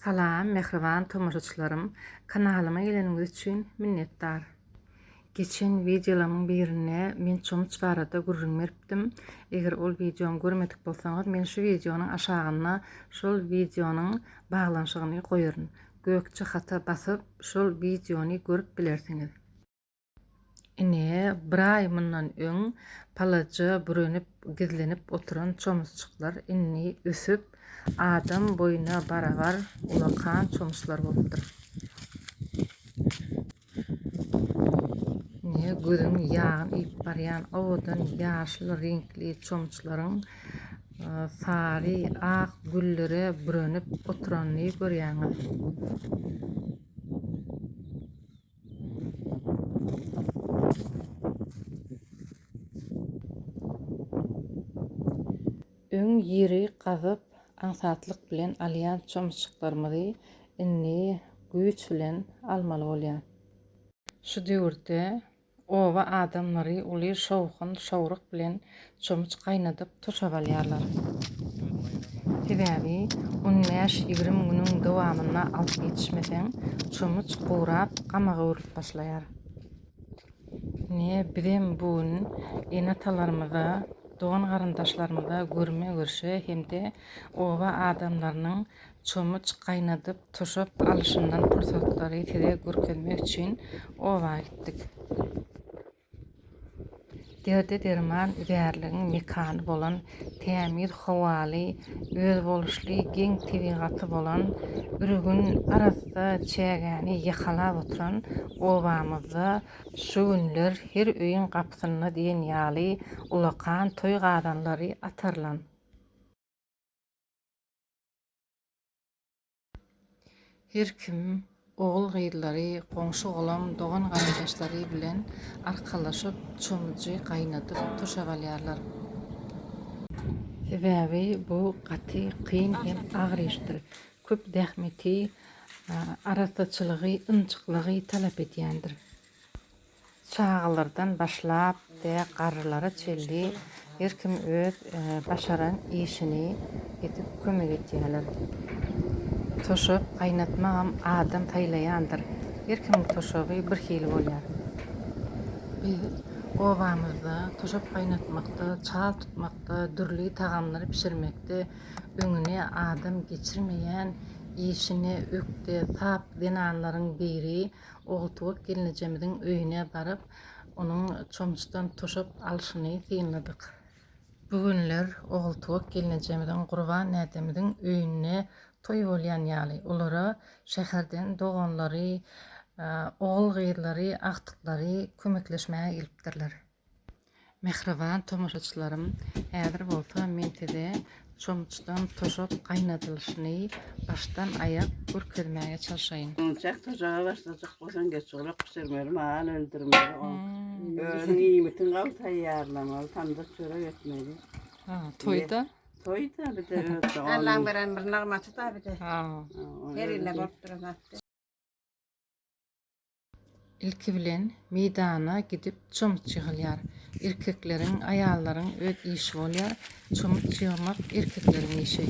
Salam mähriban tomaşaçylarym kanalyma geleniňiz üçin minnetdar. Geçen wideolarymyň birinde men çomuç barada gürrüň beripdim. Eger ol wideony görmedik bolsaňyz men şu wideonyň aşagyna şol wideonyň baglanyşygyny goýaryn. Gökje hata basyp şol wideony görüp bilersiňiz. Ine, bir aý mundan öň palaja bürenip, gizlenip oturan çomusjyklar indi ösüp, adam boýuna barabar ulakan çomuslar bolupdyr. Ine, gözüň ýagyny iýip barýan owadan ýaşyl reňkli çomusjyklaryň sary, ak güllere bürenip oturanyny görýäňiz. Öň ýeri gazyp, aňsatlyk bilen alýan çomuşjyklarymyzy indi güýç bilen almaly bolýar. Şu döwürde Oba adamlary uly şowhun, şowruk bilen çomuç gaýnadyp tuşap alýarlar. Sebäbi un bäş-ýigrimi günüň dowamynda alyp ýetişmeseň, çomuç gurap, gama göwrülip başlaýar. Ine, bizem bu gün ene-atalarymyza, dogan-garyndaşlarymyza görme-görşe hem-de oba adamlarynyň Çommuç gaýnadyp, tuşak alyşyndan pursatlary size görkezmek üçin oba gitdik. Derde derman üzärligiň mekany bolan, tämiz howaly, özboluşly geň tebigaty bolan, ürgün arassa çägäni ýakalap oturan obamyzda şu günler her öýüň gapysynda diýen ýaly ulakan toý gazanlary atarylan. Her kim ogul-gyzlary, goňşy-golam, dogan-garyndaşlary bilen arkalaşyp, çomujy gaýnadyp, turşap alýarlar. Sebäbi bu gaty kyn hem agyr işdir. Köp zähmeti, arassaçylygy, ynjyklygy talap edýändir. Çagalardan başlap de garrylara çenli her kim öz başaran işini edip kömek etýäler. Toşak gaýnatmagam adam saýlaýandyr. Her kimiň toşagy bir hili bolýar. Biz obamyzda toşak gaýnatmakda, çal tutmakda, dürli tagamlary bişirmekde öňüne adam geçirmeýän işine ökde, sap zenanlaryň biri. Ogultuwak gelnejemiziň öýüne baryp, onuň çomçudan tuşak alşyny synladyk. Bu günler Ogultuwak gelnejemiziň Gurban näzemiziň öýünde toý bolýan ýaly. Olara şäherden doganlary, ogul-gyzlary, agtyklary kömekleşmäge gelipdirler. Mähriban tomaşaçylarym häzir bolsa men size çomçdan toşap gaýnadylyşyny başdan aýak görkezmäge çalşaýyn. Çomçak toşaga başlajak bolsaň geç gulak bişirmeli mal öldürmeli oň. Özüň iýmitiň gawy taýýarlamaly tamdyr çörek etmeli. Ha toýda. Toýda bir de öz doganyň. Allaň beren bir nygmaty da bir de. Ha. Her ýyl bolup duran zat. Ilki bilen meýdana gidip çomut ýygylýar. Erkekleriň, aýallaryň öz işi bolýar. Çomut ýygmak erkekleriň işi.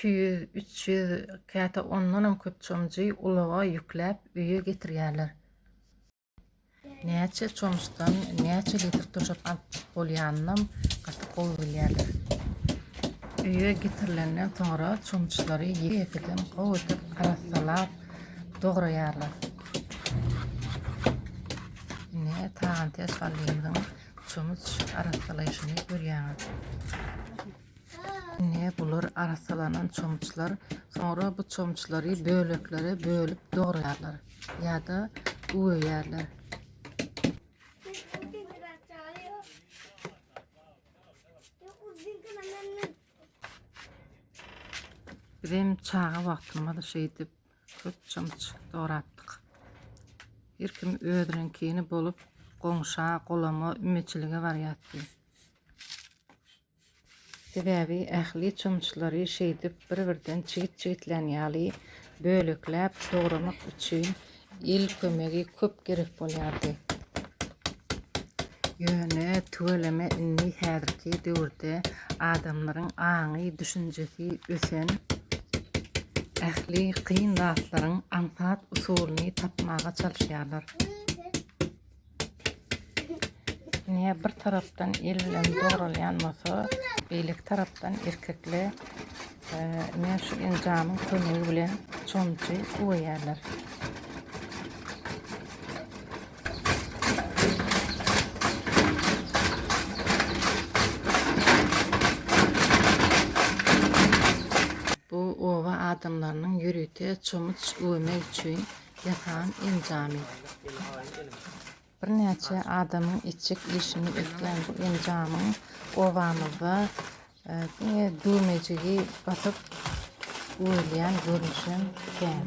iki ýüz üç ýüz käte ondanam köp çomjy ulaga ýükläp öýe getirýärler Näçe çomuşdan näçe litr turşap alyp bolýanynam gaty gowy bilýärler. Öýe getirilenden soňra çomuşlary ýekeýekeden gowy edip arassalap dograýarlar. Ine tagan tez gallymyzyň çomuç arassalaýşyny görýäňiz. Ine, bular arassalanan çomuçlar. Soňra bu çomuçlary böleklere bölüp dograýarlar ýa-da güweýärler. Bizem çaga wagtymyzda şeýdip köp çymç dorapdyk. Her kim özüniňkini bolup, goňşa, golama, ümeçilige barýardy. Sebäbi ähli çomuçlary şeýdip bir-birden çigit-çigitlän ýaly bölekläp dogramak üçin el kömegi köp gerek bolýardy. Ýöne tüweleme indi häzirki döwürde adamlaryň aňy, düşünjesi ösen, ähli kyn zatlaryň aňsat usulyny tapmaga çalyşýarlar. Ine bir tarapdan el bilen doguralýan bolsa, beýleki tarapdan erkekler e, ine şu enjamyň kömegi bilen çomçy uwaýarlar. Bu oba adamlarynyň ýörite çomuç uwamak üçin Jahan enjamy. Birnäçe adamyň etjek işini etýän bu enjamyň obamyzda diňe düwmejigi basyp uwelýän görnüşem kän.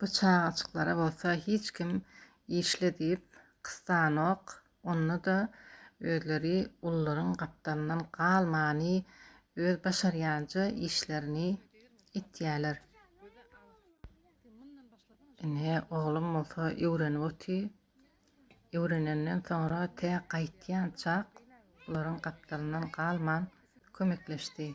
Bu çagajyklara bolsa hiç kim işle diýip gysanok, onda-da özleri ullaryň gapdalyndan galmany öz başarýança işlerini etýäler. Ine, oglum bolsa öwrenip oty. Öwrenenden soňra tä gaýtýançak bularyň gapdalyndan galman kömekleşdi.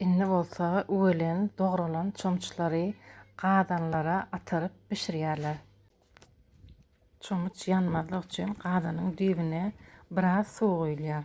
Indi bolsa üwelen, dogralan çomçulary gazanlara atyryp bişirýärler. Çomç ýanmazlyk üçin gazanyň düýbüne biraz suw guýulýar.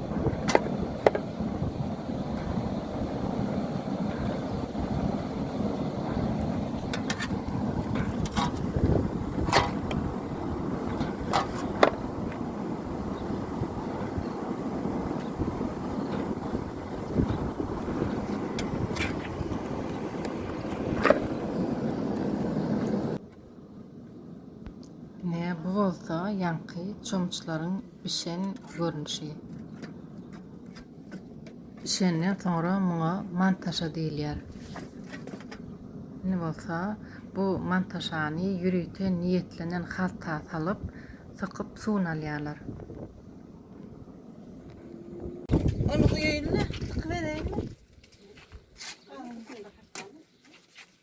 bolsa ýaňky çomçlaryň bişen görnüşi. Bişenden soňra muňa mantaşa diýilýär. Indi bolsa bu mantaşany ýörite niýetlenen halta salyp, sykyp suwuny alýarlar. Ol guýaýyny sykybereýinmi?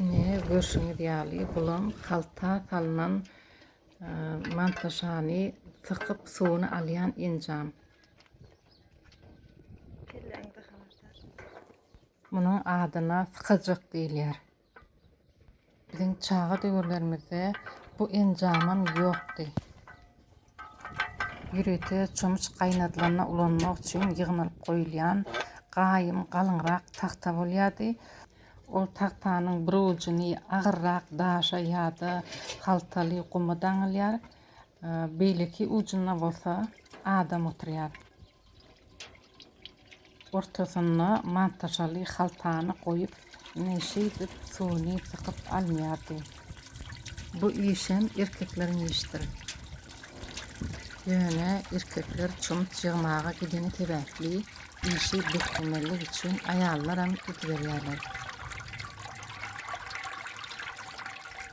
Ine görşüňiz ýaly bulam halta salnan e, mantaşany sykyp suwuny alýan enjam. Munuň adyna sykajak diýilýär. Biziň çaga döwürlerimizde bu enjamam ýokdy. Ýörite çomuç gaýnadylanda ulanmak üçin ýygnalyp goýulýan gaýym galyňrak tagta bolýardy. Ol tagtanyň bir ujuny agyrrak daşa ýa-da haltaly guma daňylýar, beýleki ujunda bolsa adam oturýar. Ortasyna mantaşaly haltany goýup, ine şeýdip suwuny sykyp alynýardy. Bu işem erkekleriň işdir. Ýöne erkekler çomut ýygmaga gideni sebäpli işi bäslemellik üçin aýallaram gidiberýärler.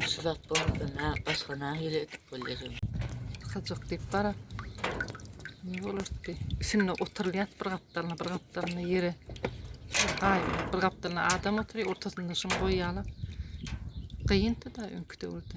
Şu zat bolmasa ne, başka nahili etip bolýar. Syjak diýip gara. Ne bolardy? Şimdi oturulýar bir gapdalyna, bir gapdalyna ýere. Gaý, bir gapdalyna adam oturýar, ortasynda şuny goýýarlar. Gyýyndy da öňki döwürde.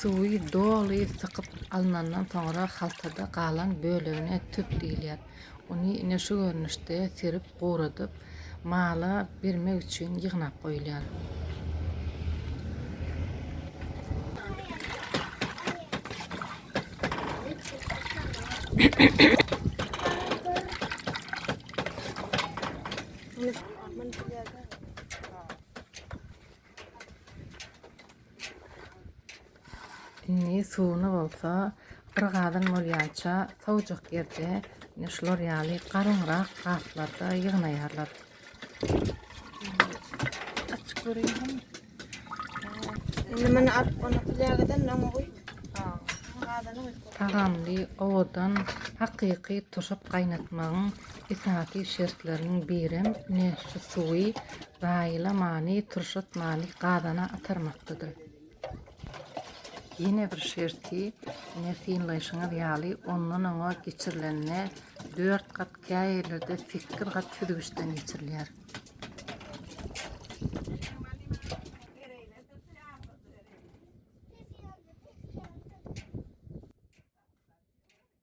Suwy doly sykyp alnandan soňra haltada galan bölegine tüp diýilýär. Ony ine şu görnüşde serip guradyp, mala bermek üçin ýygnap goýulýar. Indi suwuny bolsa bir gazan bolýança sowjak ýerde ine şular ýaly galyňrak gaplarda ýygnaýarlar. Açyk görýän. Indi meni alyp onu plýagadan öňe goý. Tagamly, owadan, hakyky tuşap gaýnatmagyň Esasy şertleriniň birem ine şu suwy zaýala many, turşat many gazana atarmakdadyr. Ýene bir şerti ine synlaýşyňyz ýaly ondan oňa geçirilende dört gat käýerlerde sekiz gat süzgüçden geçirilýär.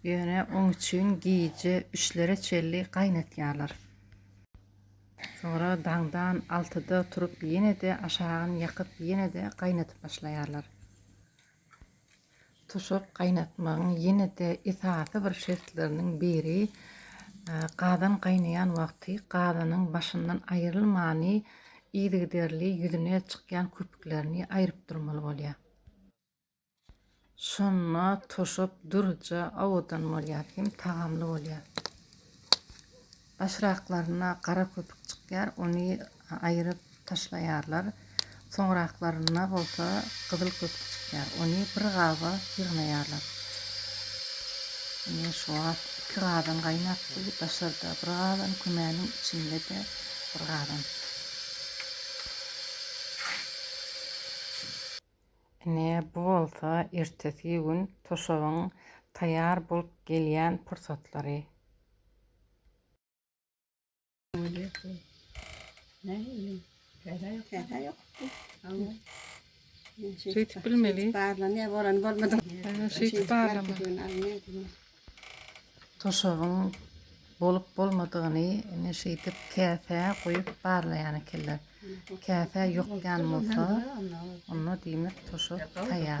Ýöne oň üçin gije üçlere çenli gaýnatýarlar. Soňra daňdan altyda turup ýene-de aşagyny ýakyp ýene-de gaýnadyp başlaýarlar. Tuşak gaýnatmagyň ýene-de esasy bir şertleriniň biri gazan gaýnaýan wagty gazanyň başyndan aýrylmany yzygiderli ýüzüne çykýan köpüklerini aýryp durmaly bolýar. Şonda toşap duruja owadan bolýar hem tagamly bolýar. Başraklarynda gara köpük çykýar, ony aýyryp taşlaýarlar. Soňraklarynda bolsa gyzyl köpük çykýar, ony bir gaba ýygnaýarlar. Ine şu wagt iki gazan gaýnapdy, daşarda bir gazan, kümäniň içinde-de bir gazan. Ine, bu bolsa ertesgi gün toşabyň taýýar bolup gelýän pursatlary. Şeýdip bilmeli. Şeýdip barlama. Toşabyň bolup-bolmadygyny ine şeýdip käsä guýup barlaýan ekenler. Käsä ýokýan bolsa, onda diýmek toşap taýýar.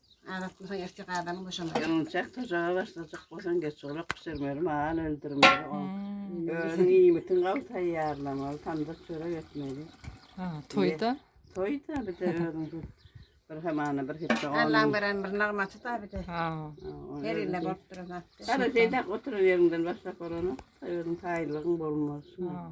Adat bolsaň erkek adamyň boşamaly. Ýalňyjak tojaga başlajak bolsaň geç olak bişirmeli, mal öldürmeli. O özüň iýmitin gawy taýýarlamaly, tamdyr çörek etmeli. Ha, toýda? Toýda bir de özüň bir bir hamana bir hepde on. Allan beren bir nagmaty da bir de. Ha. Her ýerde bolup duran zat. Gara şeýdäp oturan ýeriňden başlap bolana özüň taýlygyň bolmaz. Ha.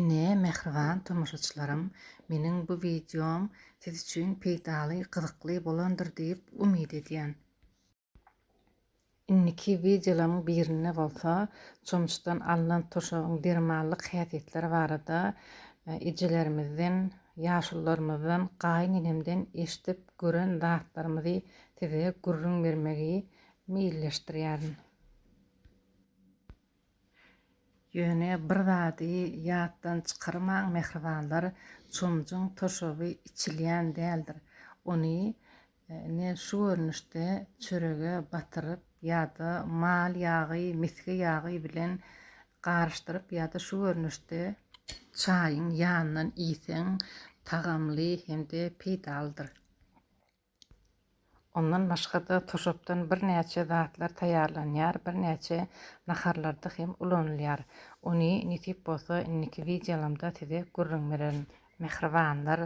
Ine, mähriban tomaşaçylarym, meniň bu wideom siz üçin peýdaly, gyzykly bolandyr diýip umyt edýän. Indiki wideolaryň birinde bolsa çomçudan alnan turşagyň dermanlyk häsiýetleri barada ejelerimizden, ýaşulularymyzdan, gaýynenemden eşidip gören zatlarymyzy size gürrüň bermegi meýilleşdirýärin. Ýöne bir zady ýatdan çykarmaň mähribanlar, çomjuň toşaby içilýän däldir. Ony ne şu görnüşde çörege batyryp ýa-da mal ýagy, misge ýagy bilen garyşdyryp ýa-da şu görnüşde çaýyň ýanyndan iýseň tagamly hem-de peýdalydyr. Ondan başga-da turşakdan birnäçe zatlar taýýarlanýar, birnäçe naharlarda hem ulanylýar. Ony nesip bolsa indiki wideolamda size gürrüň bererin. Mähribanlar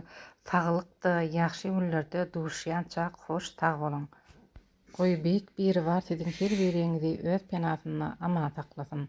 saglykda ýagşy günlerde duşýançak hoş sag boluň. Goý beýik Biribar siziň her biriňizi öz penasynda aman saklasyn.